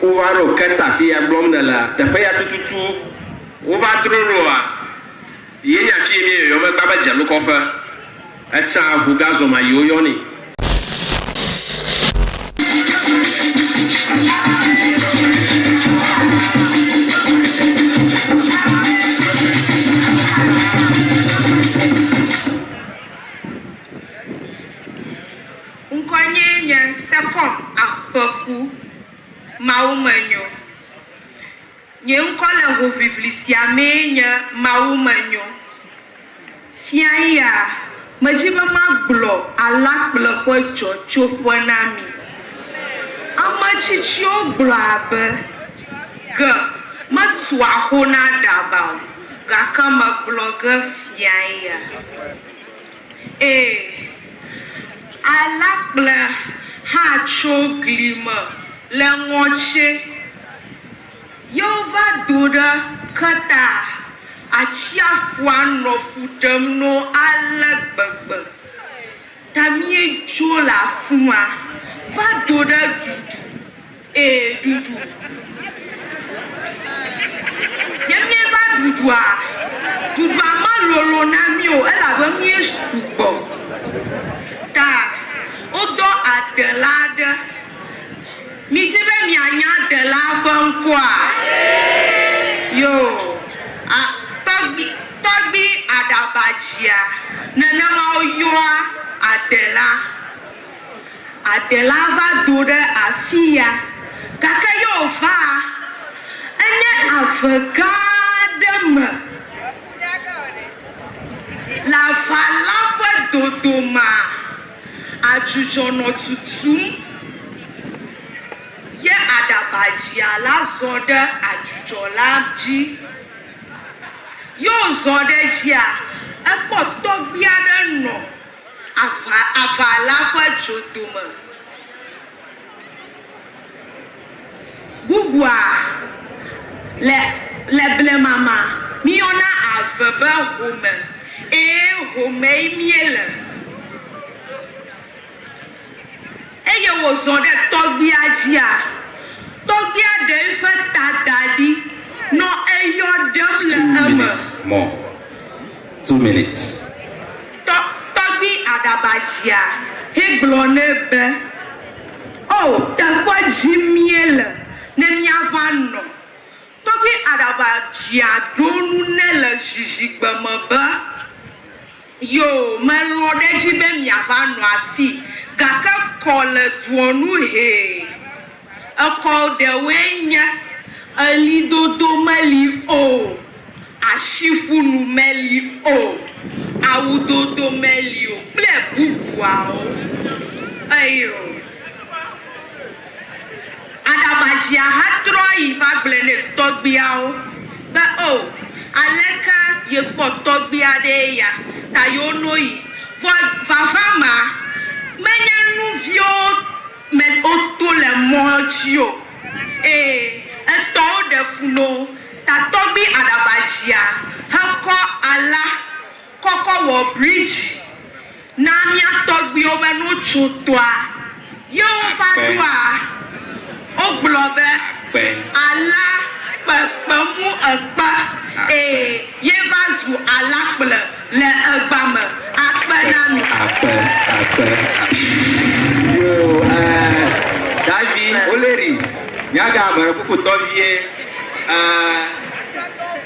Wova ɖo Kert afi ya gblɔm nèlea? Teƒe ya tututu. Wova dro ɖoa? Yenya afi yi míeyɔyɔ megba be Dzenukɔƒe. Etsã ʋu gazɔ ma yi woyɔnɛ. Ŋkɔnyee nye Sekɔm Aƒeku Mawumenyo. Nye ŋkɔ le hoʋiʋli sia mee nye Mawumenyo. Fiayaa, medi be magblɔ Alakpleƒe Dzɔtsoƒe na mi. Ame tsitsiwo gblɔa be, Ge metua xo na aɖaba o, gake megblɔ ge fiayaa. Ẽ, alakplẽ hã tso gli me le ŋɔtsɛ, ye wova do ɖe Kreta atsiaƒua nɔ fu ɖem no ale gbegbe ta míedzo le afi ma va do ɖe Dudu. Ee, ɖuɖu. Ne míeva ɖuɖua, ɖuɖua melolo na mí o elabe míesu gbɔ. Ta wodɔ adela aɖe. Midi be mianya adelaa ƒe ŋkɔa? Yo. A, tɔgbi, Tɔgbi Aɖabadzia. Nenema woyɔa adelaa. Adela va do ɖe afia, gake ye wòva enye ave gã aɖe me le aʋala ƒe dodomea, adzudzɔ nɔ tutum, ye aɖabadzia la zɔ ɖe adzudzɔ la dzi. Ye wòzɔ ɖe edzia, ekpɔ tɔgbui aɖe nɔ. Aʋa, aʋa la ƒe dzodome. Bubua, le, le blema ma, míyɔna ave be home. Ẽ, homee míele. eye wòzɔ ɖe tɔgbia dzia, tɔgbia ɖe eƒe ta da ɖi nɔ eyɔ ɖem le eme. Tɔ, tɔgbi aɖaba dzia hegblɔ nɛ be, O, teƒe dzi míele ne míava nɔ. Tɔgbi aɖaba dzia ɖo nu nɛ le zizigbe me be. Yoo, melɔ̃ ɖe edzi be miava nɔ afii, gake kɔ le doɔ nu hee. Exɔ ɖewoe nye, ɣlidodo meli o, ashiƒunu meli o, awudodo meli o kple bubuawo. Eyo. Aɖabadzia hã trɔ yi va gblɔe nɛ tɔgbuiawo be, O, aleke yekpɔ tɔgbui aɖee ya ta yewono yi? Vɔ vava ma, menye nu viwo me woto le mɔ dzi o. Ee, etɔwo ɖe fu no. Ta tɔgbui aɖabadzia hekɔ ala. Kɔkɔ wɔ bridzi na mía tɔgbuiwo be ne wotso tɔa ye wova ɖoa, wogblɔ be, Ala kpe kpe mu ekpe ee ye va zu ala kple le egba me akpe na mi. Akpe, akpe, akpe. Yoo ɛɛ Davi Oleri, mía ga ame ɖe kpokpotɔ vie ɛɛ.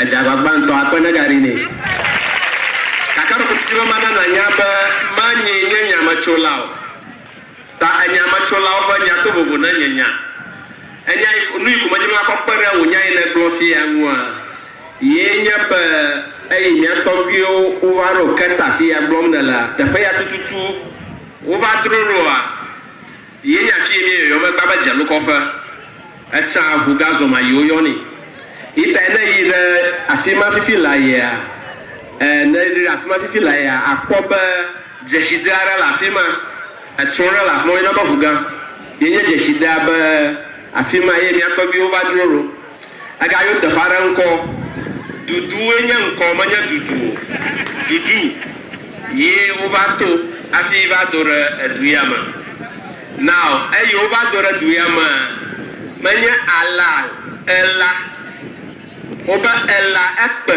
Edze agbagba ŋutɔ. Akpe negaɖi nɛ. Gake meɖo kuku be mana nànya be manyee nye nyametsola o, ta enyametsolaawo ƒe nya to vovo na nye nya. Enya yi, nuyi ko medi be makɔ kpe ɖe wò nya yi nègblɔ fiaa ŋua yee nye be eyi mía tɔgbuiwo wova ɖo ke ta fiya gblɔm nèlea, teƒe ya tututu wova droloa? Ye nya ci yi mie yɔyɔ me gba be dze ŋkɔ ƒe. Eca ŋu ga zɔ ma yi wo yɔ ni. Yi tae ne yi ɖe afima fifi la yea, e, ne yi ɖe afima fifi la yea, a kpɔ be dzeside aɖe le afima. Etrɔ ɖe le afima wo yɔna be ŋu ga. Ye nye dzeside abe afima ye mia tɔgbiwo va dzro ɖo. Egayɔ teƒe aɖe ŋkɔ Duduwoe nye ŋkɔ menye Dudu o. Dudu ye wova to hafi va do ɖe edu ya me. Now eyi wova do ɖe du ya mea menye Ala o, Ela. Wobe Ela ekpe.